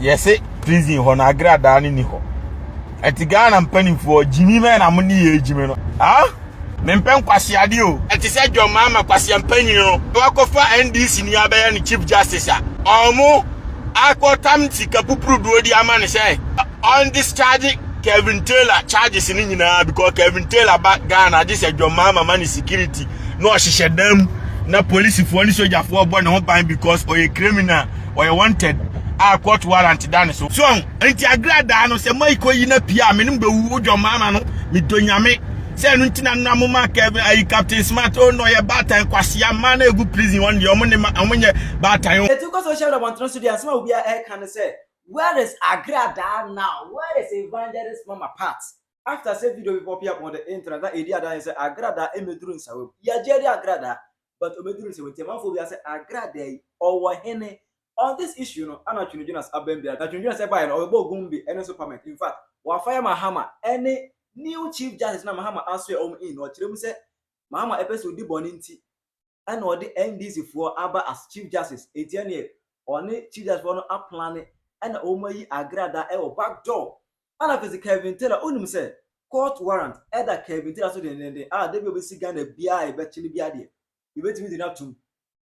yɛse prison hɔ no agradaa no ni hɔ ɛti ghana mpanimfoɔ gyimi mɛ na mo ne yɛ gyimi no ah mempɛ nkwaseade o ɛte sɛ john maama kwaseɛ mpanyin no wakɔfa ndc ni abɛyɛ no chief justice a ɔmo akɔtam sika pupuruduo di ama no sɛ on discharge Kevin Taylor charges ni nyinaa because Kevin Taylor ba Ghana agye sɛ John Mahama ma ne security na ɔhyehyɛ dan mu na polisifoɔ ne sogyafoɔ bɔ ne ho ban because ɔyɛ criminal ɔyɛ wanted a court warrant da ne so so nti agradaa no sɛ maiko yi na pia me no bɛwu wodwɔ maama no medɔ nyame sɛ ɛno nti na nna mo ma kɛve ayi captain smart o na ɔyɛ baatan kwasea mmaa na ɛgu prison wɔn deɛ ɔmo ne ma ɔmo nyɛ baatan o. Etu kɔ so hyɛ abɔntene so deɛ asɛm a obiara ɛreka ne sɛ where is agradaa now where is evangelist mama pat after sɛ video bi pɔpee up on the internet na ɛdi adanse sɛ agradaa mmɛduru nsawam yɛagye adi agradaa But obeduru nsɛm nti amanfoɔ biara sɛ Agrada yi ɔwɔ hene? On this issue no ana Twene Jonas abam biara? Na Twene Jonas ɛbaeɛ no ɔbɛbɔɔ Gumbi ɛne nso Parment. In fact wafa yɛ Mahama ɛne new Chief Justice no a Mahama asoɛ wɔn in no ɔkyerɛ mu sɛ Mahama ɛpɛ sɛ odi bɔne nti ɛna ɔde NDC foɔ aba as Chief Justice enti ɛneɛ ɔne Chief Justice foɔ no aplane ɛna wɔn ayi Agrada ɛwɔ back door Ana afei nso Kelvin Taylor wonim sɛ court warrant ɛda Kelvin Taylor so dendenden a da bi a ɔbɛsi Ghana biara a yɛbɛkye no biara deɛ yɛbɛtumi de no atom.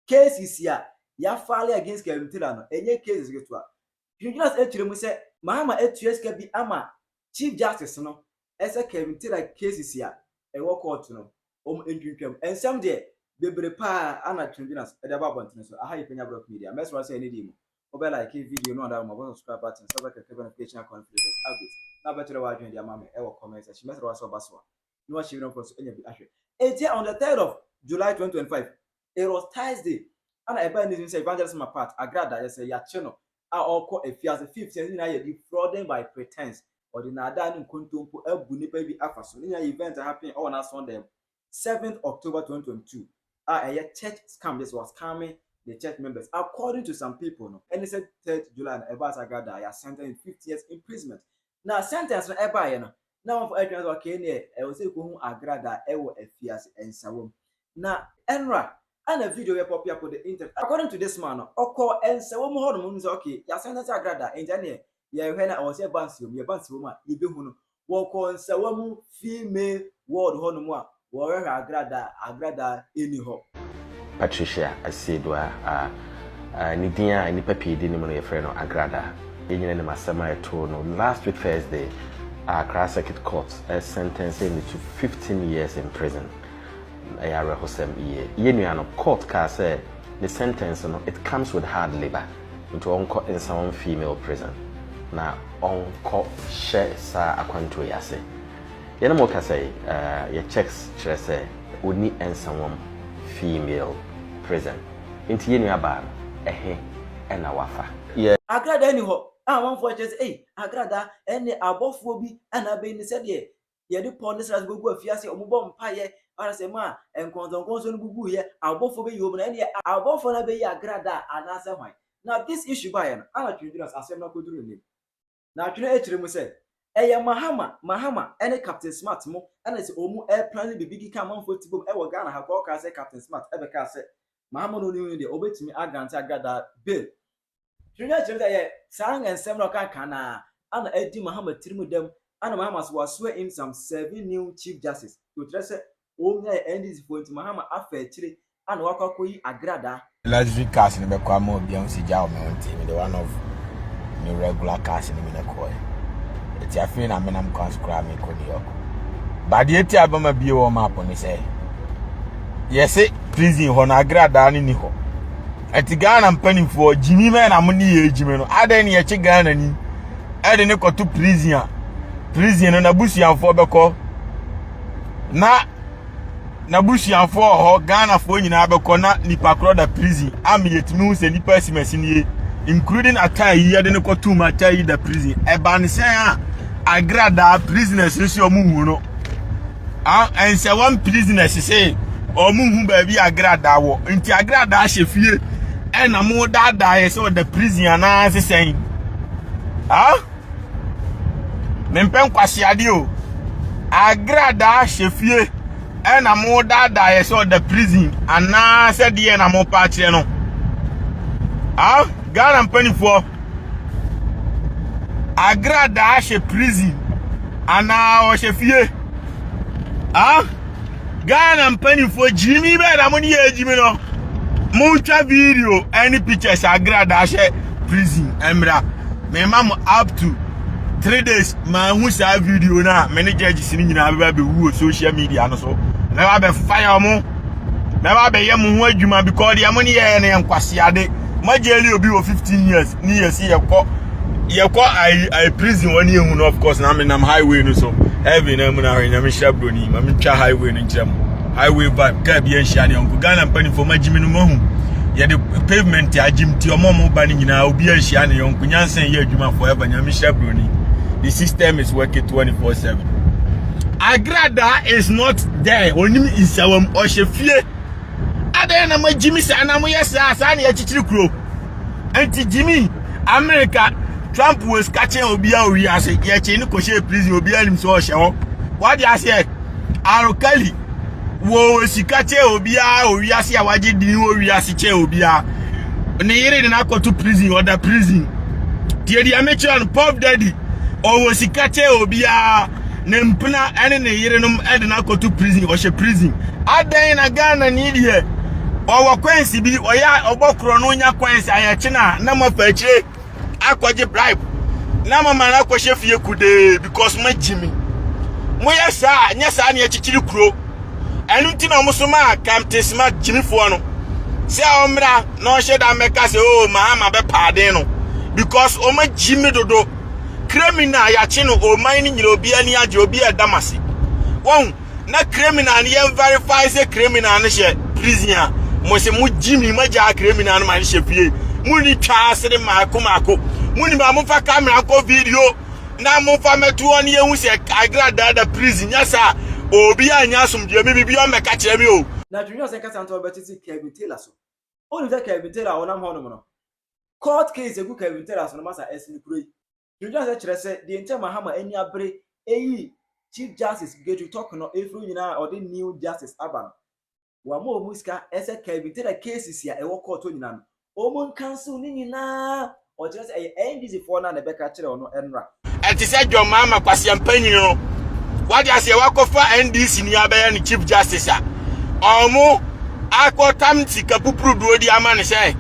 Cases a yɛafile against Kelvin Taylor no ɛnyɛ cases ketewa. Dwendwene ase kyerɛ mu sɛ Mahama atua sika bi ama Chief Justice no sɛ Kelvin Taylor cases a ɛwɔ court no wɔn ntwintwam. Nsɛm deɛ bebree pa ara na Twendwene ase de aba abɔntene so. Aha yɛ Panya Brɔk Media. Mɛsrɛ wo sɛ ɛnnɛ da yi mu Wobɛ like video no anaa wobɔ subscribe button sɛ wobɛ click notification icon for latest updates na wobɛ kyerɛ w'adwene de ama me ɛwɔ comment section. Mɛsrɛ wa sɛ ɔba so a na wahyɛ video no kɔ so anya bi ahwɛ. Enti on the 3rd of July 2025, it was Thursday, ana ɛbaa news mu sɛ Evangelist Mama Pat Agrada yɛ sɛ yɛakye no a ɔrekɔ afiase. Fifth sɛ ne nyinaa yɛ defrauding by pretense, ɔde naadaa ne nkontompo abu nnipa bi afa so. Ne nyinaa yɛ event a happen ɔwɔ n'asɔɔdan mu. seventh October twenty twenty two a ɛyɛ church scam just was scamming the church members according to some people no ɛne sɛ third July no ɛbaa saa gada a yɛ sentence with fifty years imprisonment na sentence no ɛbaeɛ no na wɔn fɔ ɛtwɛn sɛ ɔkee neɛ ɛwɔ sɛ ɛkɔ hu agrada ɛwɔ afiase ɛnsawam na ɛnora ɛna video yɛ pɔpia kɔ the internet according to this man no ɔkɔ ɛnsawam hɔ nom sɛ ɔkee yɛ sentence agrada ɛnti ɛneɛ Yɛhwɛ na ɔwɔ sɛ yɛba nsewa mu, yɛba nsewa mu a, yɛbɛhu no. Wɔkɔɔ nsewa mu female ward hɔnom a, wɔrehwɛ agradaa a, agradaa nni hɔ. Patricia Asieduah a ne din a nnipa pii di anim no yɛfrɛ no Agradaa. Yɛn nyinaa nim asɛm a ɛtoo no last week Thursday a Accra Circuit Court sɛntɛnsee no to 15 years in prison. Ɛyɛ awerɛhosɛm yie. Yɛn nua no, court kaa sɛ ne sɛntɛnse no it comes with hard labour. Nti ɔnkɔ nsa wɔn female prison na ɔnkɔ hyɛ saa akwantuo yi ase. Yɛne mo kasa yi, yɛ checks kyerɛ sɛ ɔnni nsa wɔm female prison. Nti yɛn nua baa no, ɛhe na wafa? Yɛ. Agradaa nni hɔ a amanfoɔ kyerɛ sɛ ei, agradaa, ɛnneɛ abɔfoɔ bi na abɛyi no sɛdeɛ yɛde pɔw ne srade bɛgu afiase, wɔbɔ mpaeɛ, anaasɛ mu a nkɔnsɔnkɔnsɔn no bubuiɛ, abɔfoɔ bɛyi wɔn, na ɛnneɛ abɔfoɔ no abɛyi agradaa anaasɛ hwan? Na this issue baeɛ no, ana Twene gyina sɛ asɛm no akɔduru n'anim? Na Twene akyerɛ mu sɛ, ɛyɛ Mahama, Mahama ne Captain Smart mo na sɛ wɔn ɛreplane biribi keka amanfoɔ ti bom wɔ Ghana ha koraa, wɔkaa sɛ Captain Smart bɛkaa sɛ Mahama na ɔnim no deɛ, wɔbɛtumi agrante agradaa bail Hwehwɛ kyerɛ dɛ ɔyɛ saa nsɛm no a ɔkaa kan no ara ana adi Mahama tsir mu dɛm ana Mahama so ɔasoa imsam serving new chief justice to kyerɛ sɛ omiae NDC foɔ ntsi Mahama afa ekyire ana ɔakɔ akɔyi agradaa. Luxury cars no bɛkɔ ama obi ahu sɛ gyaw me ho nti mede one of me regular cars no bi na kɔɔɛ. Ɛti afei na menam kwan so koraa mekɔ New York. Ba deɛ ti a bɛma bie wɔ map no sɛ yɛse prison hɔ no agradaa no ni hɔ. ɛte ghana mpanimfoɔ gyimi mɛ na mo ne yɛ gyimi no adɛn ne yɛkye ghana ni ɛde ne kɔto prison a prison no n'abusuafoɔ bɛkɔ na n'abusuafoɔ wɔ hɔ ghanafoɔ nyinaa bɛkɔ na nipa korɔ da prison ama yɛtumi hu sɛ nipa asimasi nie including ataa yi yɛde ne kɔto mu ataa yi da prison ɛba ne sɛn a agradaa prisoners no si ɔmo hu no Ah, and say one prisoner she say, or mu hu baabi agrada wo. Nti agrada she fie. And na mo da da ye so the prison ana se sen. Ah? Me mpen kwase ade o. Agrada she fie. And na mo da da ye so the prison ana se de na mo pa kire no. Ah, Ghana mpanifo. Agradaa hyɛ prison anaa ɔhyɛ fie? Ah, Ghana mpanimfoɔ gyimi bɛɛ na mo ne yɛ gyimi no. Montwa video ne pictures agradaa hyɛ prison mmra. Mema mo up to three days maa hu saa video no a me ne judges no nyinaa bɛba bɛwu wɔ social media no so. Mɛba bɛfa yɛ mo. Mɛba bɛyɛ mo ho adwuma because deɛ mo ne yɛyɛ no yɛ nkwaseade. ma jail obi wɔ 15 years ne yɛ si yɛkɔ yɛkɔ i i prison wɔn yɛ hu no of course na me nam highway no so heaven na mu na ahwɛ nyame hyɛ broni ma me twa highway no nkyerɛ mu highway vibe kaa bi anhyia ne ɔnko ghana mpanimfoɔ ma gyimi no mahu yɛde pavement agyim ti ɔmo ɔmo ba no nyinaa obi anhyia ne ɔnko nyansa yɛ adwuma forever nyame hyɛ broni the system is working 24 7 agrada is not there onim nsawam ɔhyɛ fie adɛn na magyimi saa na moyɛ saa saa na yɛkyekyere kuro nti gyimi amerika trump wɔ sika kyɛn obiara wɔ wiase yɛkyee no kɔhyɛɛ prison obiara nim sɛ ɔhyɛ hɔ wade aseɛ arokali wɔ sika kyɛn obiara wɔ wiase a wagye din wɔ wiase kyɛn obiara ne yere de no akɔto prison ɔda prison deɛ deɛ mekyerɛ no pop daddy ɔwɔ sika kyɛn obiara ne mpena ne ne yerenom de no akɔto prison ɔhyɛ prison adɛn na ghana ni deɛ ɔwɔ kwansi bi ɔyɛ a ɔbɔ korɔ no nya kwansi ayɛkye no a na moafa akyire akɔgye bribe na mama no akɔhyɛ fie kudee because moagye me moyɛ saa nyɛ saa ne akyikyiri kuro ɛno nti na ɔmo so maa kamtesima gyimifoɔ no sɛ ɔmmra na ɔnhyɛ da mmɛka sɛ o oh, mahama bɛpaaden no because ɔmagyi me dodo Criminal yɛakye no ɔman no nyina obi ani agye obi ɛda mo ase wɔn na criminal no yɛn verify sɛ criminal no hyɛ prison a mo se mo gyi mi ma gyaa criminal no ma no hyɛ fie mo ni twa ase de maako maako mo ni ma mo fa camera nkɔ video na mo fa mɛto hɔ ne yɛhu sɛ agradaa da prison nyɛ saa obi a nya asomdue mi bibi ɔmmɛka kyerɛ mi o. Na twinwia sɛ nkasa ntɔ bɛtete Kevin Taylor so. Onim sɛ Kevin Taylor a ɔnam hɔnom no, Court case egu Kelvin Terrace no masa ɛsen kuro yi. Dwendwen asɛ kyerɛ sɛ deɛ nti a Mahama ani abere eyi Chief Justice Gedru Tork no efiri wo nyinaa a ɔde new Justice aba no, wama ɔmo sika ɛsɛ Kelvin Terrace cases a ɛwɔ court hɔ nyinaa no ɔmo nkansil ne nyinaa, ɔkyerɛ sɛ ɛyɛ NDC foɔ no a na ɛbɛka kyerɛ ɔno ɛnra. Ɛte sɛ John Mahama kwasia mpanyin no. Wadi aseɛ wakɔfa NDC ni abɛyɛ ne chief justice a. Ɔmo akɔtam sika pupuruduo di ama ne sɛ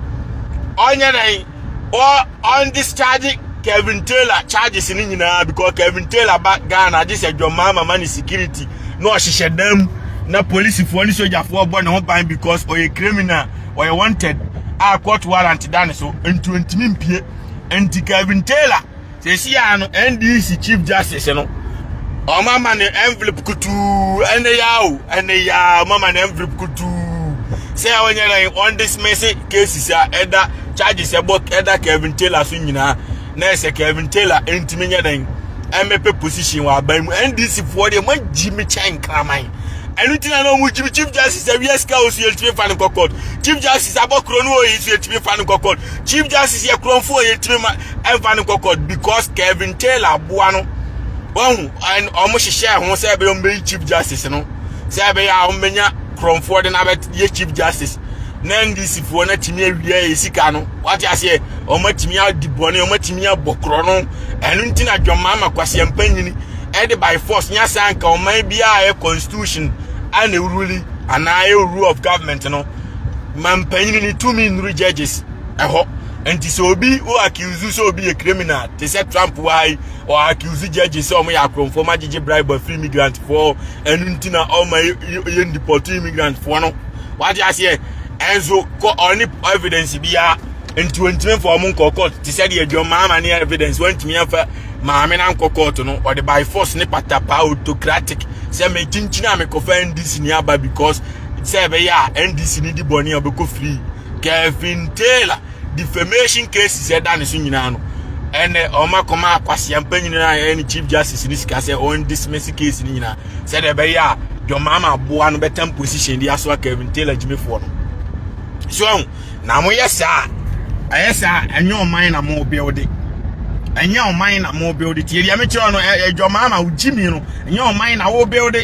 ɔnyɛ dɛn ɔ ɔn discharge Kevin Taylor charges ne nyinaa because Kevin Taylor ba Ghana agye sɛ John Mahama ma ne security na ɔhyehyɛ dam na polisifoɔ ne sogyafoɔ bɔ ne ho ban because ɔyɛ criminal ɔyɛ wanted a court warrant da ne so nti ɔntumi mpie nti Kevin Taylor Sɛsi a no NDC Chief Justice no ɔma ma no envelope kutuu ɛne ya o ɛne ya ɔma ma no envelope kutuu sɛ ɔnyɛ na wɔn dismiss cases a ɛda charges ɛbɔ ɛda Kevin Taylor so nyinaa na ɛsɛ Kevin Taylor ntumi nyɛ dɛn ɛmɛpɛ position wɔ aban mu NDC foɔ deɛ wɔn agyi mi kyɛn kraman ɛnu ti na na wɔn gyi mi Chief Justice awia sika o so yɛ ntumi fa no kɔ court Chief Justice abɔ kuro no o yɛ so yɛ ntumi fa no kɔ court Chief Justice yɛ kurɔnfo o yɛ ntumi ma. ɛmfa no kɔkɔ because Kevin Taylor aboa no wahu ɛn wɔn hyehyɛ ho sɛ ɛbɛyɛ wɔn bɛyi chief justice no sɛ ɛbɛyɛ a wɔn bɛnya kurɔnfoɔ de n'abɛyɛ chief justice na ndc foɔ no atumi awia yɛ sika no wate aseɛ wɔn atumi adi bɔne wɔn atumi abɔ korɔ no ɛno nti na dwamma ama kwasia mpanyini ɛde by force nya saa nka ɔman biara yɛ constitution ɛna ewuruli anaa ɛyɛ rule of government no ma mpanyini ne tumi nnuru judges ɛhɔ. nti sɛ obi wo accuse sɛ obi yɛ criminal te sɛ trump wa yi ɔ accuse judge sɛ ɔmo yɛ akorɔmfoɔ ma gyegye bribe afiri immigrant foɔ ɛno nti na ɔma yɛ ndipɔto immigrant foɔ no wate aseɛ ɛnso kɔ ɔne evidence biara nti wɔntumi mfa ɔmo nkɔ court te sɛ deɛ dwom maama ne evidence wɔntumi mfa maame na nkɔ court no ɔde by force ne patapa autocratic sɛ mekyinkyini a mekɔfa ndc ni aba because sɛ ɛbɛyɛ a ndc ni di bɔne a ɔbɛkɔ free Kevin Taylor defamation cases ɛda ne so nyinaa no ɛnɛ wɔn akɔma akwasia mpanyin a ɛyɛ ne chief justice ne sika sɛ wɔn dismiss case ne nyinaa sɛdeɛ ɛbɛyɛ a John Mahama aboa no bɛtam position de asoa Kevin Taylor gyimifoɔ no so ɛho na mo yɛ saa ɛyɛ saa ɛnyɛ ɔman na mo build ɛnyɛ ɔman na mo build tie deɛ mekyerɛ no ɛyɛ John Mahama wo gyimi no ɛnyɛ ɔman na wo build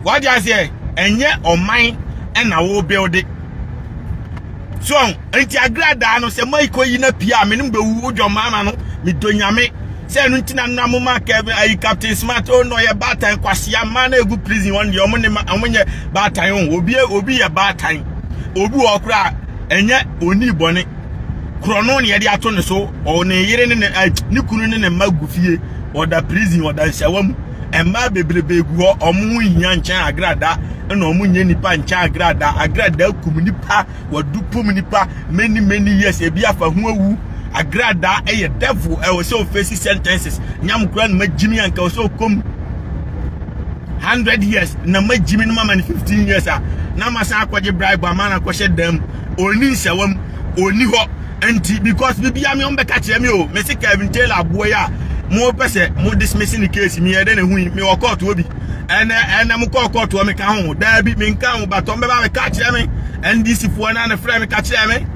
Wate aseɛ? Ɛnyɛ ɔman ɛna wo build. So ɔn, nti agradaa no sɛ Mike oyi na pia a, menim bɛwu wo John Mahama no, medɔ nyame. Sɛ ɛno nti na na moma Kevin ayi Captain Smart, oh no, ɔyɛ baatan kwasea, mmaa na ɛgu prison wɔn deɛ, wɔn ne ma, wɔn nyɛ baatan o, oh, obi, obi yɛ baatan, obi wɔ koraa, ɛnyɛ oni bɔne, korɔno na yɛde ato ne so, ɔ ne yere ne ne, ne kunu ne ne mma gu fie, ɔda prison, ɔda nsawa mu. mmaa bebrebe gu hɔ wɔn ho nhia nkyɛn agrada ɛna wɔn nyɛ nipa nkyɛn agrada agrada kum nipa wɔdu pum nipa many many years ebi afa ho awu agrada ɛyɛ devil ɛwɔ sɛ ofesi sentences nyam kura no ma gyimi anka wɔ sɛ okom hundred years na ma gyimi no ma ma no fifteen years a na ma san akɔgye bribe ama na akɔhyɛ dɛm oni nsɛwam oni hɔ. Nti because bibia me ɔmo bɛka kyerɛ me o me se Kevin Taylor aboa yi a mo pɛ sɛ mo dismiss ne case me yɛ dɛ na hu yi me wɔ court wɔ bi ɛnɛ ɛnɛ mo kɔɔ court wɔ me ka ho daa bi me nka ho batɔ mbɛba me ka kyerɛ me NDC foɔ na ne frɛ me ka kyerɛ me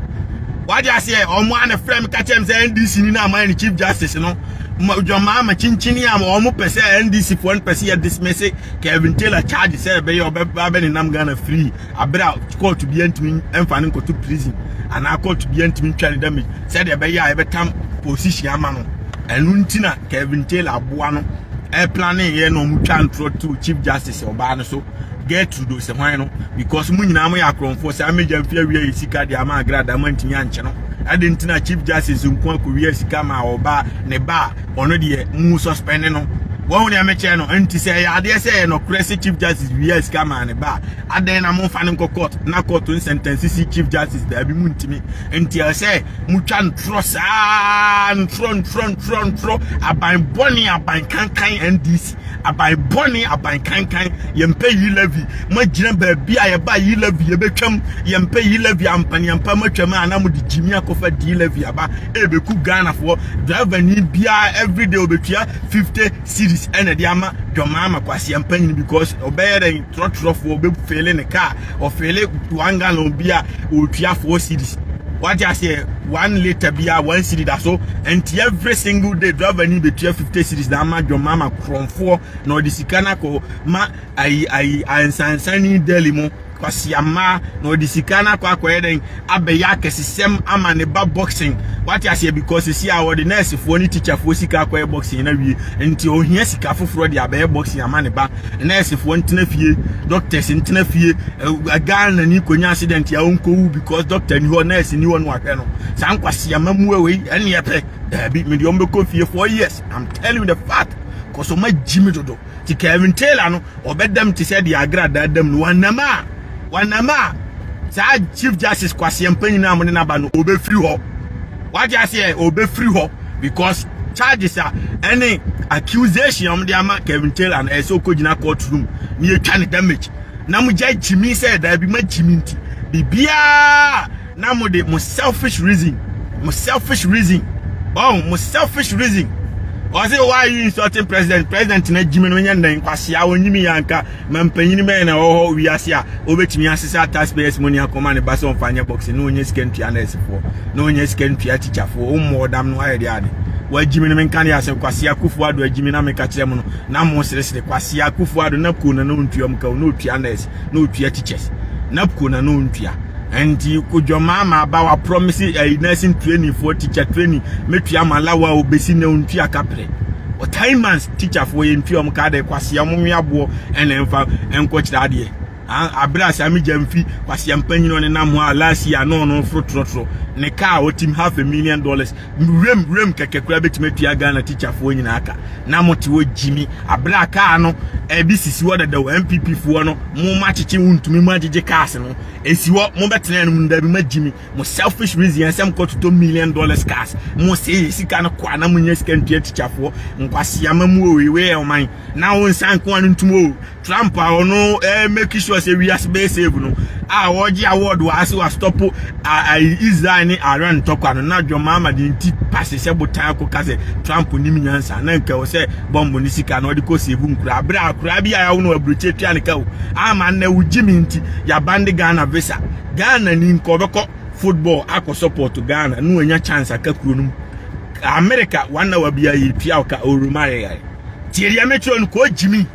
wagye aseɛ ɔmo a ne frɛ me ka kyerɛ me sɛ NDC ni na ama ne chief justice no dwamaa ma kyinkyin a ɔmo pɛ sɛ NDC foɔ no pɛ sɛ yɛ dismiss Kevin Taylor charge sɛ ɛbɛyɛ ɔbɛba bɛ nenam Ghana free Aber a court bia ntumi mfa no nkɔto prison anaa court bia ntumi ntwa ne damage sɛdeɛ ɛbɛyɛ a yɛbɛtam position ama no ɛno nti na Kevin Taylor aboa no ɛplane yɛ na ɔmo twa ntorɔ to chief justice ɔbaa no so Gertrude Osehwan no because mo nyinaa mo yɛ akorɔmfoɔ saa mmegya mfi awia yɛ sika deɛ ama agrada mo antumi ankyɛ no ɛde nti na chief justice nko akɔwia sika ma ɔbaa ne baa ɔno deɛ mu suspend no wɔn deɛ mekyɛ no nti sɛ ɛyɛ adeɛ sɛ ɛyɛ nɔkorɛ sɛ chief justice bi yɛ sika maa ne ba a adɛn na momfa no nkɔ court na court nsɛntɛnse si chief justice daabi mu ntumi nti ɛyɛ sɛ motwa ntorɔ saa ntorɔ ntorɔ ntorɔ ntorɔ aban bɔne aban kankan ndc aban bɔne aban kankan yɛmpɛ yi levy magyina baabi a yɛba yi levy yɛbɛtwam yɛmpɛ yi levy ampaneampa matwam a na mode gyimi akɔfa di levy aba ɛbɛku ghanafoɔ driver ni biara everyday ɔbɛtua 50 series ɛna de ama dwɔmaa ma kwaseampanyini because ɔbɛyɛ dɛn trɔtrɔfoɔ ɔbɛfeele ne kaa ɔfeele one gallon bi a ɔtua four series wate aseɛ one litre bi a one series da so nti every single day driver ni bɛtua fifty series na ama dwom ama korɔmfoɔ na ɔde sika no akɔ ma ayi ayi ansansani deli mu kwasia mmaa na ɔde sika no akɔ akɔyɛ dɛn abɛyɛ akɛsesɛm ama ne ba boxing wate aseɛ because sisi a wɔde nɛɛsefoɔ ne tikyafoɔ sika akɔyɛ boxing na wie nti ohia sika foforɔ de abɛyɛ boxing ama ne ba nɛɛsefoɔ ntena fie doctors ntena fie ghana ni konya accident a ɔnkɔwu because doctor ni hɔ nɛɛse ni hɔ no ahwɛ no saa nkwasia ma mu wei ɛne ɛpɛ daabi mede ɔmbɛkɔ fie for years I'm telling you the fact kɔsɔ ma gyi me dodo Nti Kevin Taylor no ɔbɛdam te sɛ deɛ Agra daadam no wanam a wanam a saa Chief Justice Kwasi Ampanyini a mo de no aba no ɔbɛfiri hɔ wagye aseɛ ɔbɛfiri hɔ because charges a ɛne accusation a mo de ama Kevin Taylor no ɛsɛ ɔkɔgyina court room ne yɛtwa ne damage na mo gya gyimi sɛ daabi ma gyimi nti biribiaa na mo de mo selfish reason mo selfish reason ɔn mo selfish reason ɔse why you insulting president president na gyimi no nyɛ nnɛn kwasea ɔnyimi yɛ anka ma mpanyin bɛyɛ na ɛwɔ hɔ wiase a ɔbɛtumi asesa taxpayers money akɔma ne ba sɛ ɔmfa nyɛ boxing na ɔnyɛ sika ntua nɛɛsefoɔ na ɔnyɛ sika ntua tikyafoɔ ɔmmɔ ɔdam no ayɛ deɛ ade wagyimi no menka ne asɛm kwasea kufu ado agyimi na meka kyerɛ mu no na mo seresere kwasea kufu ado na koo na na ɔntua mu ka ɔna ɔtua nɛɛse na otua teachers napco na na ontua nti kodwamaa ma aba wa promise ɛyi eh, nursing training for teacher training metua ma lawa obesi na ontua kapre o time months teacher for yɛ ntua ɔmo ka de kwasi ɔmo nwe aboɔ ɛna nfa nkɔkyerɛ adeɛ abere asa mi gya mfi kwasi mpanyin ɔne nam hɔ a last year no no foro torɔtorɔ ne kaa ɔtim half a million dollars Wuram wuram kɛkɛ koraa betumi atua Ghana tikyafoɔ nyinaa ka. Na mo te hɔ gyimi abere a kaa no ɛde sisi hɔ dada o. NPP foɔ no mo mo akyekye wo ntumi mo agyegye cars no esi hɔ mo bɛtena anom no dabi ma gyimi mo selfish reason yɛn sɛ mo kɔ totɔ million dollars cars mo se yɛ sika no kɔ a na mo nya sika ntua tikyafoɔ nkwaseama mu o ewei yɛ ɔman na wo nsa nko a no ntumi o Trump a ɔno ɛɛ make sure sɛ wiase bɛyɛ save no a ɔgye award wɔ ase wa stop a Israel ne Iran ntɔkwa no na John Mahmadi nti pase sɛ botan akɔ ka sɛ Trump nim nyansa na nka wɔ sɛ bɔmbo ne sika na ɔde kɔ save nkura abere akora bi a yawo no aburokye tua ne ka o ama na wo gye me nti yabande Ghana visa Ghana ni nka ɔbɛkɔ football akɔ support Ghana no anya chance aka kuro no mu America wanna wa bia yɛ tua ɔka oromare yare tie deɛ mekyerɛ no kɔ gye me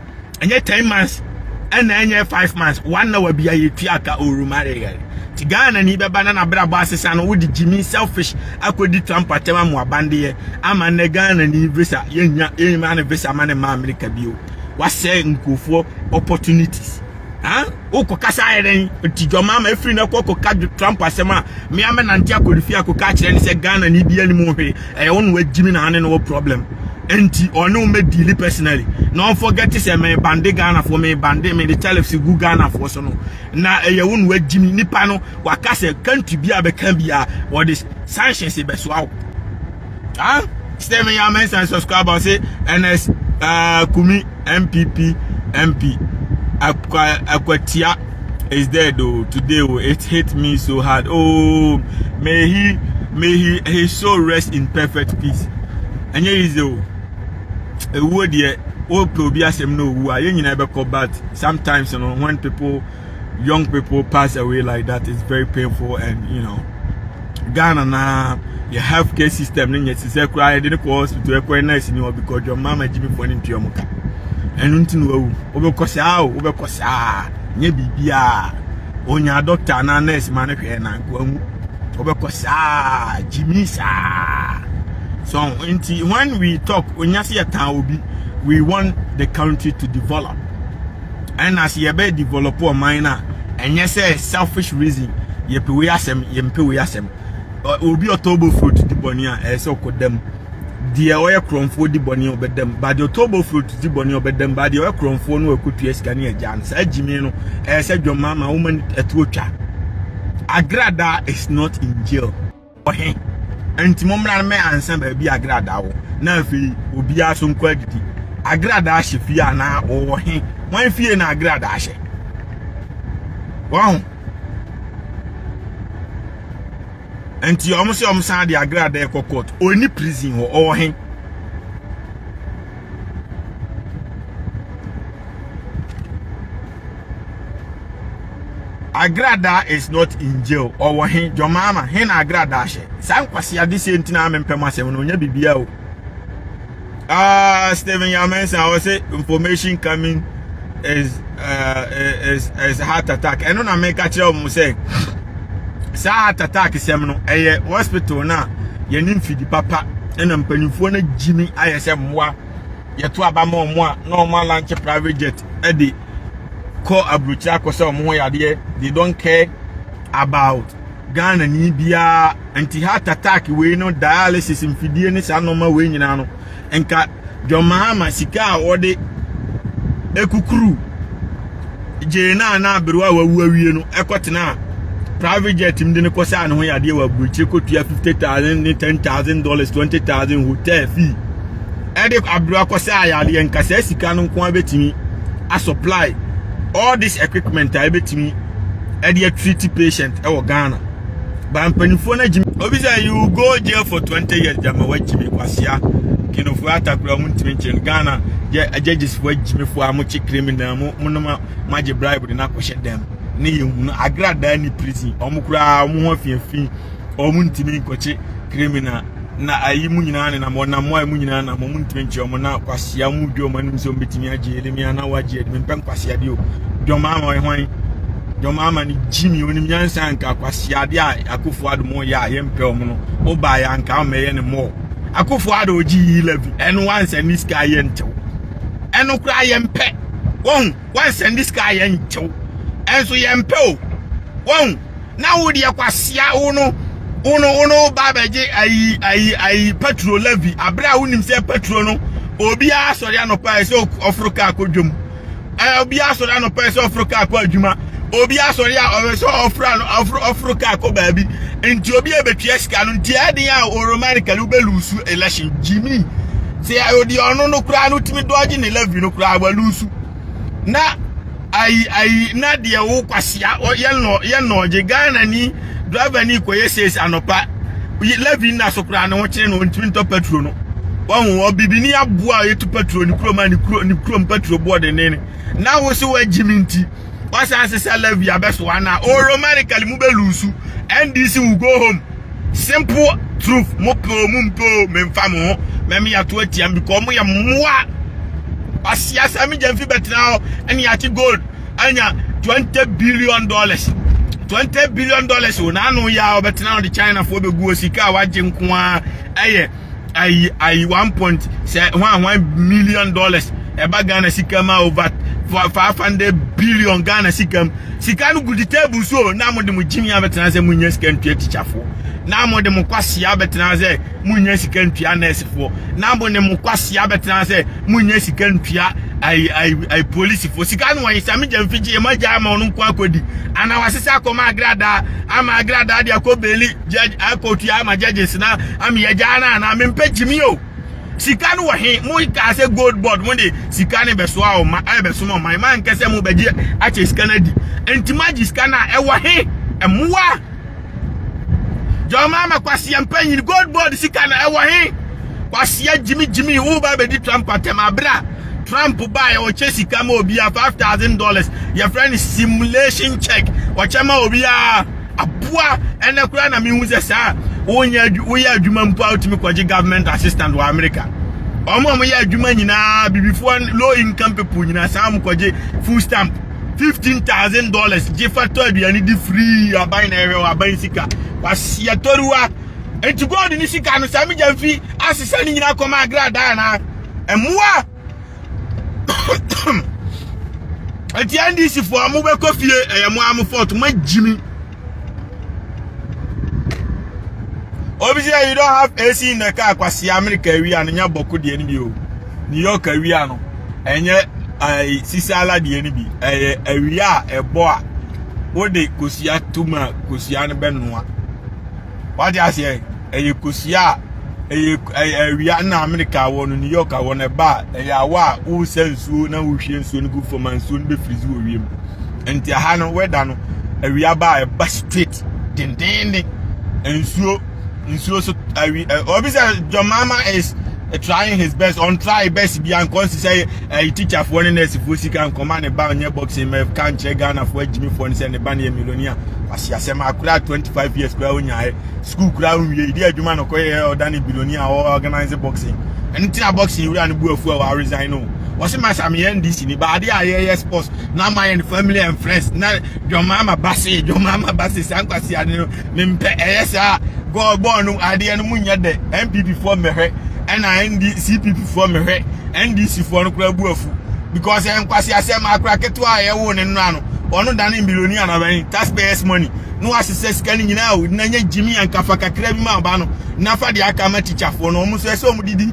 ɛnyɛ ten months ɛna ɛnyɛ five months one hour bi a yɛtua aka ɔrumareyare nti ghana ni bɛba na nabrabɔ asesa no wode gyimi selfish akɔdi trump atɛm amoabandeɛ ama nnɛ ghana ni visa yɛnya yɛnyima ne visa ma ne ma amerika bio wasɛe nkurɔfoɔ opportunities huh? wokɔ kasa ayɛ dɛn nti dwama ma afiri no kɔ kɔka Trump asɛm a mmea mɛnante akɔ ne fie akɔka akyerɛ ne sɛ Ghana ne bia ne mu hwee ɛyɛ wo na wagyimi na ane ne wɔ problem nti ɔne wo mɛdiili personally na ɔmfɔgɛte sɛ me bande Ghanafoɔ me bande me de tariffs gu Ghanafoɔ so no na ɛyɛ wo na wagyimi nipa no waka sɛ country bi a bɛka bi a wɔde sanctions bɛsoa wo Ah, stay me your mess and subscribe or say NS uh, Kumi MPP MP Akwatia is dead though today oh, it hit me so hard. Oh, may he may he his soul rest in perfect peace. And here is the ewu deɛ wopɛ obi asɛm na owu a yɛn nyinaa bɛkɔ but sometimes you know, when people young people pass away like that is very painful and you know ghana na yɛ health care system ne nyɛ sisɛ koraa yɛde ne kɔ hospital ɛkɔ nurse ni ɔbi kɔ dwom mama gyimi fo ne ntua mu ka ɛno nti na wawu wobɛkɔ saa o wobɛkɔ saa nyɛ biribiaa onya doctor anaa nurse ma ne hwɛ na nkoa mu wobɛkɔ saa gyimi saa so nti when we talk onya se yɛtan obi we want the country to develop Ɛna sɛ yɛbɛ develop ɔman no a ɛnyɛ sɛ selfish reason yɛpɛ wei asɛm yɛmpɛ wei asɛm obi ɔtɔbɔ fruit di bɔne a ɛyɛ sɛ ɔkɔ dam deɛ ɔyɛ korɔmfoɔ di bɔne a ɔbɛdam ba deɛ ɔtɔbɔ fruit di bɔne a ɔbɛdam ba deɛ ɔyɛ korɔmfoɔ no ɛkɔtua sika ne agya no saa gyimi no ɛyɛ sɛ dwɔmmaama woma ɛtoɔ twa agrada is not in jail Ɔhe, Enti mommra mmɛ ansa baabi a agradaa wɔ, na afei obiara so nkɔ adidi. Agradaa hyɛ fie anaa ɔwɔ he? Wɔn fie na agradaa hyɛ. Wɔn Enti wɔn sɛ wɔn san de agradaa ɛkɔ court. Ɔni prison hɔ, ɔwɔ he? Agrada is not in jail. Ɔwɔ he Jomama he na agrada ahyɛ. Saa nkwasi ade sɛ ntina a mempɛ mu asɛm no ɔnyɛ biribiara o. Ah, Stephen Yamensa ɔsɛ information coming is uh, is is heart attack. Ɛno na meka kyerɛ wɔn sɛ saa heart attack sɛm no ɛyɛ hospital na yɛne mfidi papa ɛna mpanimfoɔ no gyimi ayɛ sɛ mmoa. yɛto aba ma wɔn a na wɔn alanche private jet de kɔ aburokyire akɔ sɛ wɔn ho yadeɛ they don't care about ghana ni biara nti heart attack wei no dialysis mfidie ne saa nneɛma wei nyinaa no nka john mahama sika a wɔde ekukuru gyee no a na aberewa a wawu awie no kɔtenaa private jet mu de no kɔsaa ne ho yadeɛ wɔ aburokyire kɔtua fifty thousand ne ten thousand dollars twenty thousand hotel fee ɛde aberewa kɔsaa yadeɛ nka saa sika no nko abɛtumi asupply all this equipment a ɛbɛtumi ɛde atreat patient ɛwɔ ghana ba mpanimfoɔ no agyimi obi sɛ you go jail for 20 years gyama wagyimi kwasea kenofoɔ atakora ɔmo ntumi nkyerɛ no ghana agyegyesifoɔ agyimifoɔ a mokye criminal mo monoma moagye bribe de no akɔhyɛ dɛm ne yɛ hunu agradaa ne prison ɔmo koraa ɔmo ho afiafi ɔmo ntumi nkɔkye criminal na ayi mu nyinaa nenam wɔnam a mu nyinaa nam ɔmo ntumi nkyerɛ ɔmo na kwasea mu dwa ɔmo anim sɛ ɔmo betumi agye Yeremia na wagye ɛdi mpɛ nkwasea deɛ o dwom ama ɔyɛ hwan dwom ama ne gyimi onim nyansa nka kwasea adeɛ a akofo ado mo yɛ a yɛmpɛ ɔmo no ɔbaa yɛ anka ɔmɛyɛ ne mɔɔ akofo ado ogye yi levy ɛno wansɛ ne sika yɛ ntew ɛno koraa yɛmpɛ wɔn wansɛnde sika a yɛntew ɛnso yɛmpɛ o wɔn na wo deɛ kwasia wo no wo no wo no ba bɛgye ayi ayi ayi patro levy abere a wonim sɛ patro no obiara sɔre anɔpa sɛ ɔforo kaa kɔ dwam ɛɛ obiara sɔre anɔpa sɛ ɔforo kaa kɔ adwuma obiara sɔre a ɔwɛ sɛ ɔforo ano ɔforo ɔforo kaa kɔ baabi nti obi a ebetwia sika no nti ɛden a oromanically wobɛlusu election gyimi Sɛ ɔdi ɔno no koraa no tumi dɔgye ne levy no koraa walusu na ayi ayi na deɛ wo kwasia yɛ nɔ yɛ nɔgye ghana ni driver ni kɔyɛ sales anɔpa levy nna so koraa ne ho kyerɛ no ntumi ntɔ petrol no wɔn wɔ bibini aboa a yɛtu petrol ne kurom a ne kuro ne kurom petrol boɔ denden na wo so wagyi mi nti wasan sesa levy abɛsoa na oromanically mu bɛlusu ndc will go home. Simple truth mo pɛ o mo mpɛ o memfa mo ho mɛme yɛato atia m because mo yɛ mmoa ɔsea sɛ me gyamfi bɛtena hɔ ɛne yɛate gold anya 20 billion dollars 20 billion dollars o na ano yɛ a ɔbɛtena ɔde chinafoɔ bɛgu o sika a wagye nko a ɛyɛ ayi ayi one point sɛ hwan hwan million dollars ɛba ghana sika ma over five hundred billion ghana sika mu sika no gu di table so na mo de mo gyimi abɛtena sɛ mo nya sika ntua tikyafoɔ na mo de mo kwasia abɛtena sɛ mo nya sika ntua nɛɛsefoɔ na mo de mo kwasia abɛtena sɛ mo nya sika ntua ayi ayi ayi polisifoɔ sika no wɔn sɛ mo gya mfigye mo agya ama ɔno nko akɔdi anaa wɔasesa akɔma agradaa ama agradaa de akɔ beeli judge high court yi ama judges na ameyɛ gyaa no anaa mempɛ gyimi o sika no wɔ he mo kaa sɛ gold board mo de sika no bɛsoa ɔma ɛbɛsoma ɔman ma nkɛ sɛ mobɛgye akyɛ sika no adi nti moagye sika no a ɛwɔ he mmoa jɔma ama kwaseɛ mpanyin gold board sika no ɛwɔ he kwaseɛ gyimi gyimi woba bɛdi trump atɛm aberɛ a trump baeɛ ɔkyɛ sika ma obiara five thousand dollars yɛfrɛ no simulation check ɔkyɛ ma obiara aboa ɛnɛ koraa na mehu sɛ saa wonya woyɛ adwuma mpo a wotumi kɔgye government assistant wɔ america wɔn a wɔyɛ adwuma nyinaa bibifoɔ low income people nyinaa saa wɔn kɔgye food stamp fifteen thousand dollars gye fa tɔ aduane di free aban na ɛhwɛ wɔ aban sika waseɛ tɔriwa eti gold ne sika no saa megya mfi asesa ne nyinaa kɔma agradaa na mmoa. ɛti ndc fo a mobɛkɔ fie ɛyɛ mo a mo fɔt mo agyimi obi sɛ you don't have ac in the car kwasi america awia no nya bɔko deɛ no bi o new york awia no ɛnyɛ ɛɛ sisala deɛ no bi ɛyɛ awia a ɛbɔ a wode kosua tum a kosua no bɛnoa wate aseɛ ɛyɛ kosua a ɛyɛ ɛyɛ awia na amerika wɔ no new york wɔ no ɛba a ɛyɛ awa a wosa nsuo na wohwie nsuo no gu fam a nsuo no bɛfirizi wɔ wiem nti aha no wɛda no awia ba a ɛba straight dendenden nsuo nsuo so awi ɛ obi sɛ jɔmaama is trying his best ɔn try best bi ankɔ nsi sɛ Ɛyi tikyafoɔ ne nɛɛsefoɔ sika nkɔma ne ba nyɛ boxing mɛ ka nkyerɛ ghanafoɔ agyimifoɔ no sɛ ne ba no yɛ milonia wase asɛm akora 25 years koraa wonyaeɛ sukuu koraa wonwie ɛdi adwuma no kɔyɛ ɔda ne bilonia a ɔorganise boxing ɛno nti na boxing wura no bu afu a wɔaresign no wɔse ma sa meyɛ ndc ni baade a yɛyɛ sports na ama yɛn family and friends na dwɔmaama base dwɔmaama base saa nkwasi ade no mempɛ ɛyɛ saa god bɔɔ no adeɛ no mu nyɛ dɛ npp foɔ mmɛhwɛ ɛna nd cpp foɔ mmɛhwɛ ndc foɔ no koraa bu afu because ɛnkwasi asɛm akora ketewa a yɛwo ne nnora no ɔno dane mbiloni anabɛn taxpayers money na wasesɛ sika no nyinaa o na nyɛ gyimi ankafa kakra bi ma aba no na fa deɛ aka ma tikyafoɔ no ɔmo nso ɛsɛ ɔmo didi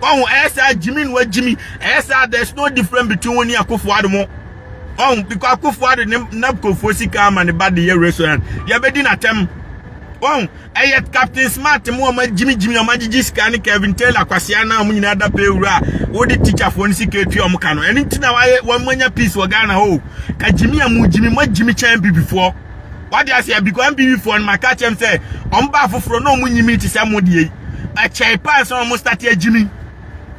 ɔho ɛyɛ saa gyimi no agyimi ɛyɛ saa there is no different between wo ne akofo ado mo ɔho biko akofo ado ne napkofo sika ama ne ba de yɛ restaurant yɛbɛdi n'atɛm ɔho ɛyɛ captain smart mo ɔma gyimi gyimi ɔma gyigyi sika ne kevin taylor kwasea na ɔmo nyinaa da pɛ wura a wode tikyafoɔ no sika atua ɔmo ka no ɛno nti na wɔn anya peace wɔ ghana hɔ o ka gyimi a mo gyimi mo agyimi kyɛn bibifoɔ wade ase abikwa mpiwi foɔ no ma ka kyɛm sɛ ɔmo ba afoforɔ na ɔmo nyimi te sɛ mo deɛ yi ɛkyɛe paa sɛ ɔmo state agyimi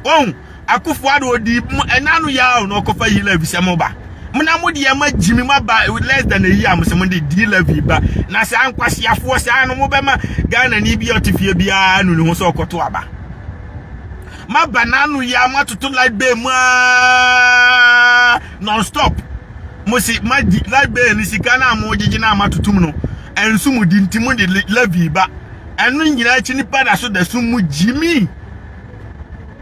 ɔn akofoɔ ado ɔdi ɛna no yɛ na ɔkɔfa yi lɛvi sɛ mo ba mo na mo deɛ ma gyimi ma ba less than a year mo sɛ mo de di lɛvi ba na saa nkwasiafoɔ saa no mo bɛma Ghana ni bi ɔte fie biara no ne ho sɛ ɔkɔto aba ma ba n'ano yɛ ama toto light bay mu aa Non stop mo se magye light bill no sika no a mogyegye no a moatotom no ɛnso mo di nti mode levy ba ɛno nyinaa akyi nipa da so da sum mu gyimi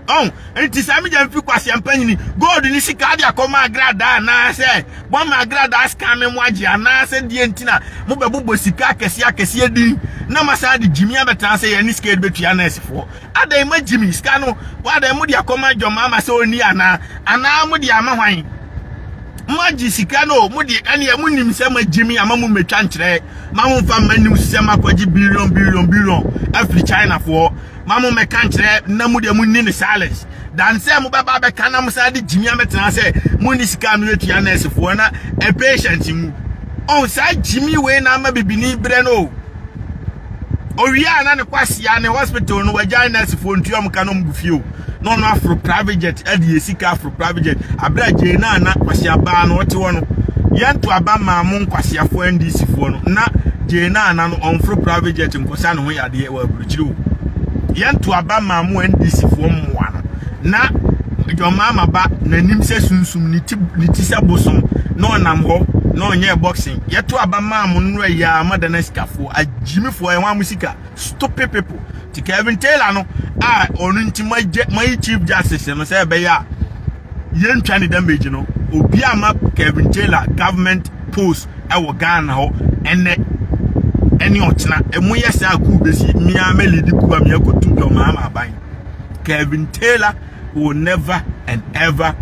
ɔn nti saa megya mfi kwase ampanyini gold ne sika de akɔma agradaa anaasɛ bɔma agradaa sika me mo agye anaasɛ deɛ nti na mobɛbobɔ sika akɛseɛ akɛseɛ din na masan de gyimi abɛtena sɛ yɛne sika de bɛtua nɛɛsefoɔ Adɛn ma Jimmy sika no wadɛn mode akɔma John Mahama sɛ ɔnni anaa anaa mode ama hwan moagye sika no mode ɛneɛ monim sɛ ma Jimmy ama mo mɛtwa nkyerɛ ma mo mfa mma news sɛ makɔgye billion billion billion afiri China foɔ ma mo mɛka nkyerɛ na mo deɛ monni ne silence dan sɛ mobɛba bɛka na mo saa de Jimmy amɛtena sɛ monni sika no atua nurse foɔ na a patient mu ɔn saa Jimmy wei na ama bibini brɛ no Owia a na ne kwasia ne hospital no wagyae nursefoɔ ntua mu ka no mbu fio na ɔno aforo private jet adi yɛ sika aforo private jet abere a gyee na na kwasia baa no ɔte hɔ no yɛn to aba maa mo nkwasiafoɔ ndc foɔ no na gyee na na no ɔnforo private jet nkɔsa ne ho yadeɛ wɔ aburukyiri o yɛn to aba maa mo ndc foɔ mmoa no na John Mahama ba n'anim sɛ sunsum ne ti ne ti sɛ bosom na ɔnam hɔ na ɔnyɛ boxing yɛto aba maa mo nnora yi a ama dana sikafoɔ Agyimifoɔ yɛn wɔn a mo sika. Stupid people. Ti Kevin Taylor no a ɔno nti moagya moayi chief justice no sɛ ɛbɛyɛ a yɛntwa ne damage no obi a ma Kevin Taylor government post ɛwɔ Ghana hɔ ɛnɛ ɛne ɔkyena ɛmo yɛ saa kuu besi mia mɛ lead kuu a mia kotu John Mahama aban Kevin Taylor will never and ever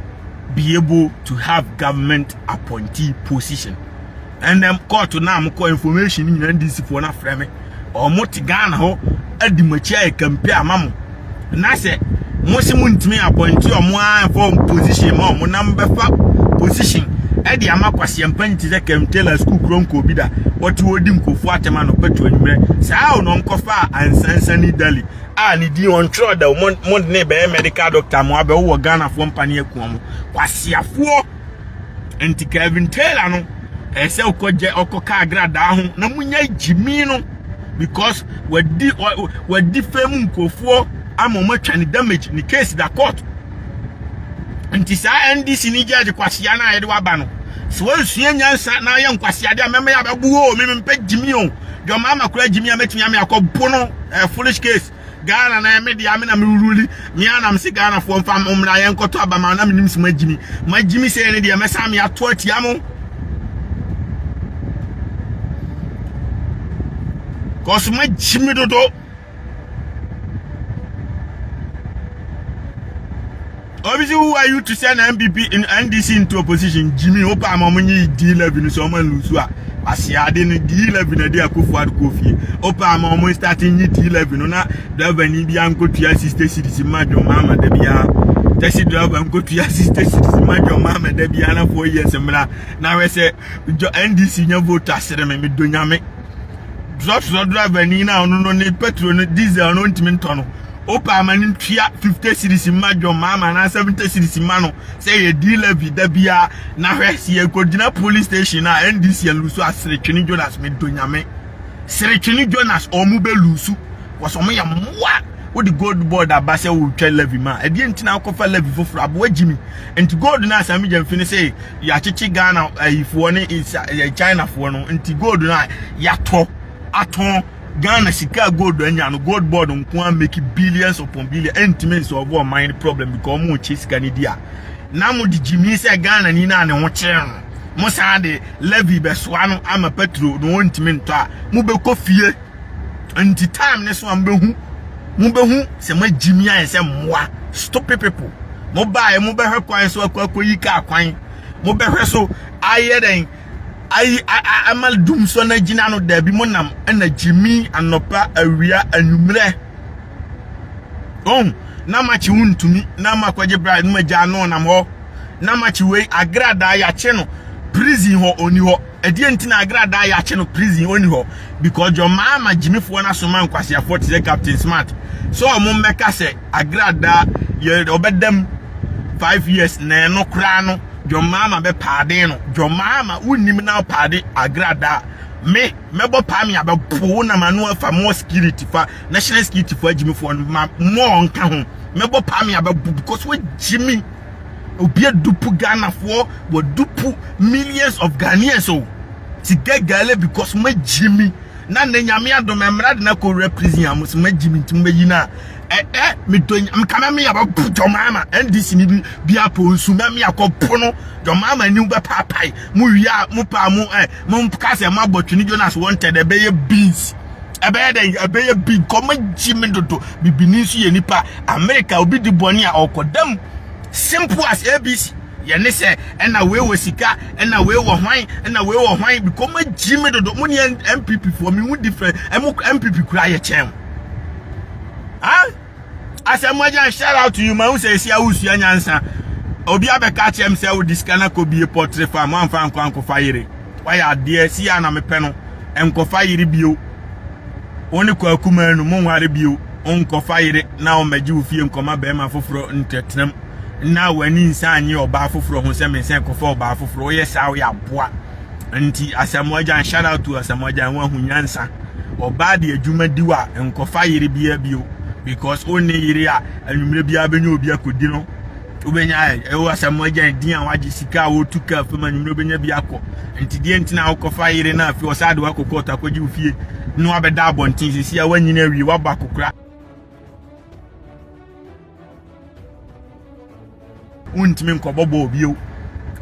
be able to have government appointee position ɛnna kɔɔto no a mokɔ information no nyinaa ndc foɔ no afrɛ me ɔmo te ghana hɔ adi mo akyi ayɛ kampe ama mo na sɛ mo se mo ntumi apɔnte ɔmo a ɛfɔ position ma ɔmo na mobɛfa position ɛde ama kwaseɛ mpa nti sɛ kɛmtela sukuu kuro nkɔ obi da wɔte wɔdi nkurɔfoɔ atɛm ano pɛto anwummerɛ saa o na ɔmkɔfa a ansansani dali a ne din ɔntwerɛ da o mo ne bɛyɛ medical doctor mo abɛwowɔ ghanafoɔ mpa ne akuo mo kwaseafoɔ nti kevin taylor no ɛyɛ sɛ ɔkɔgye ɔkɔka agradaa ho na munya gyimi no because wadi wadi fam nkurɔfoɔ ama wɔn atwa ne damage ne case da court nti saa ndc ne judge kwasia no a yɛde waba no sɛ wansua nyansa na ayɛ nkwaseade a mɛma yɛ abɛbuo o mempɛ gyimi o dwɔma ama kora gyimi a mɛtumi ame akɔbo no eh, foolish case Ghana na yɛ me dea me na me ruli me ara na me se Ghana foɔ mfa mo mmra yɛ nkɔtɔ aba ma na me nim se mo agyimi mo agyimi sɛ ne deɛ mɛsan me ato atia mo cause mo agyimi dodo Obi si who are you to send NPP in NDC into opposition Jimmy wo pa ma ɔmo nye D eleven sɛ ɔmo nlusu a kwasea ade no D eleven ɛde akofo ado kɔ fie wo pa ma ɔmo start nye D eleven no na driver ni bi ankotua sixty cities ma John Mahama da biara taxi driver ankotua sixty cities ma John Mahama da biara na four years mmra na hwɛ sɛ NDC nya vote asere me medo nyame drɔtrɔ driver ni na ɔno no ne petrol no diesel no ntumi ntɔ no Opaa ma no ntua fifte siris mma John Mahama anaa sɛvente siris mma no sɛ yɛdi levy da biara na hwɛ sɛ yɛkɔgyina polis station a NDC alusu a Seretwene Jonas medɔ Nyame Seretwene Jonas ɔmo bɛ lusu kɔs ɔmo yɛ mmoa wode gold board aba sɛ wotwa levy ma ɛdeɛ nti na wokɔfa levy foforɔ aboa gyimi nti gold no a Sami Gyamfi no sɛ yɛakyekye Ghana ayifoɔ ne Chinafoɔ no nti gold no a yɛatɔ atɔn Ghana sika a gold anya no gold board nko a make billions upon billion ɛntumi nsolve ɔman no problem because ɔmo kye sika no di a na mo de gyimi sɛ Ghana ni na ne ho kyerɛ no mo san de levy bɛsoa no ama petro no ɔntumi ntɔ a mo bɛkɔ fie nti time ne so a mobɛhu mobɛhu sɛ magyimi ayɛ sɛ mmoa stupid people mobaeɛ mobɛhwɛ kwan so akɔ akɔyi kaa kwan mobɛhwɛ so ayɛ dɛn Ayi ama dum so na gyina no daabi mo nam na gyimi anɔpa awia anwummerɛ ɔn na makye wo ntumi na makɔgye bride no magya no nam hɔ na makye wei agradaa yakye no prison hɔ ɔni hɔ ɛdeɛ nti na agradaa yakye no prison ɔni hɔ because jɔ maa ma gyimifoɔ no asoma nkwaseafoɔ te sɛ captain smart sɛ ɔmo mmɛka sɛ Agradaa yɛ ɔbɛdam five years nɛɛ no koraa no John Mahama bɛ paade no John Mahama wo nim na paade agradaa me mɛbɔ paa me abɛpowo na ma no afa mo security fa national security fo agyimi fo no ma mo nka ho mɛbɔ paa me abɛbo because wo gyimi obi adupu Ghana fo wa dupu millions of Ghanaians o ti gagale because ma gyimi na ne nyame adom ɛmra de na kɔ wura prison a mo se ma gyimi nti mo bɛyi na Eh eh me do nya mka na me ya bɛ po John Mahama NDC ni bi bi apo nsu na me akɔ po no John Mahama ni bɛ pa pai mo wia mo pa mo eh mo ka sɛ mo abɔ twini Jonas wanted eh bɛyɛ beans ɛbɛyɛ dɛ ɛbɛyɛ bi kɔ mo gyi me dodo bibini nso yɛ nipa America obi di bɔne a ɔkɔ dam simple as ABC yɛne sɛ ɛna wei wɔ sika ɛna wei wɔ hwan ɛna wei wɔ hwan bikɔ mo gyi me dodo mo ne NPP foɔ me ho different ɛmo NPP kura yɛ kyɛn ah asɛm agyan shout out to you ma wo sɛ ɛsi awosua nyansa obi abɛka akyerɛ m sɛ wode sika no akɔbie pɔtre fa mo amfa nkɔ ankɔfa yere wayɛ adeɛ si a na mepɛ no nkɔfa yere bio wo ne kɔ akuma no monware bio nkɔfa yere na ɔmmɛgye wo fie nkɔma bɛrima foforɔ ntɛtenam na w'ani nsa anye ɔbaa foforɔ ho sɛ mensɛ nkɔfa ɔbaa foforɔ woyɛ saa woyɛ aboa nti asamoah gyan shout out to asamoah gyan wahu nyansa ɔbaa de adwuma di wa nkɔfa yere bia bio because wo ne yere a anwummerɛ biara bɛnya obi akɔdi no wobɛnya ɛwɔ asamoah gyan din a wagye sika a wɔtu kaa fam anwummerɛ wobɛnya bi akɔ nti deɛ nti na wokɔfa yere no afei ɔsɛ ade wakɔ kɔɔto akɔgye wo fie na wabɛda abɔnten sisi a woanyina awie wabɔ akokora wontumi nkɔbɔ bɔɔl bio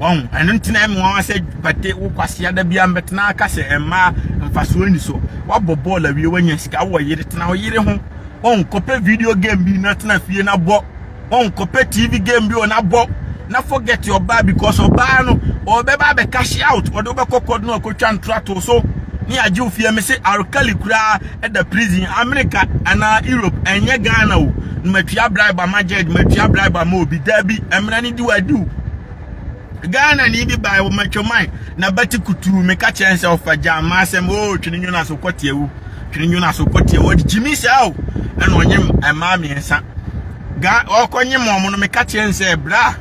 wɔn ɛno ntina mu wɔn asɛ pate wo kwasia da bia mbɛtena aka sɛ mmaa mfasoɔ ni so wabɔ bɔɔl awie wanya sika wɔ yere tena ɔyere ho wɔn kɔpɛ video game bi na tena fie na bɔ wɔn kɔpɛ tv game bi wɔ na bɔ na forget ɔbaa because ɔbaa no ɔbɛba abɛ cash out ɔde wobɛkɔ kɔd no akɔtwa ntorato so ne agye wo fie me se arkali koraa da prison america anaa europe ɛnyɛ ghana o na matua bribe ama judge matua bribe ama obi daabi mmara no di wadi o ghana ni bi bae wɔ matwaman na bɛte kutuu meka kyerɛ n sɛ ɔfa gyaa ma asɛm o twene nwona so kɔteɛ wo twene nwona so kɔteɛ wo ɔde gyimi saa o ɛna ɔnye mmaa mmiɛnsa ga ɔkɔnye ma ɔmo no meka kyerɛ n sɛ bra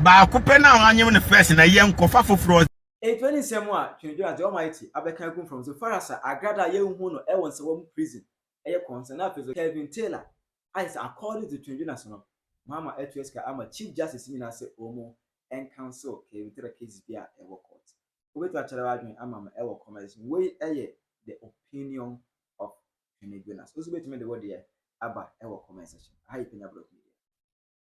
baako pɛ na wanyem no first na yɛ nkɔfa foforɔ Enti ɔde nsɛm a Twenedwen adze Almighty abɛka egu mframa so fara sɛ agrad a yennhu no wɔ nsɛwaa mu prison yɛ kɔnsɛn na afei so Kelvin Taylor ayɛ sɛ according to Twenedwen ase no ɔama atua sika ama Chief Justice nyina sɛ wɔnmu ncancel Kelvin Taylor case bia ɛwɔ court. Wobɛtumi akyɛrɛ w'adwen ama me wɔ comments mu. Wei yɛ the opinion of Twenedwenas. Wo nso wobɛtumi de wo deɛ aba wɔ comment section. Aha yɛ Penya Brɔfo Media.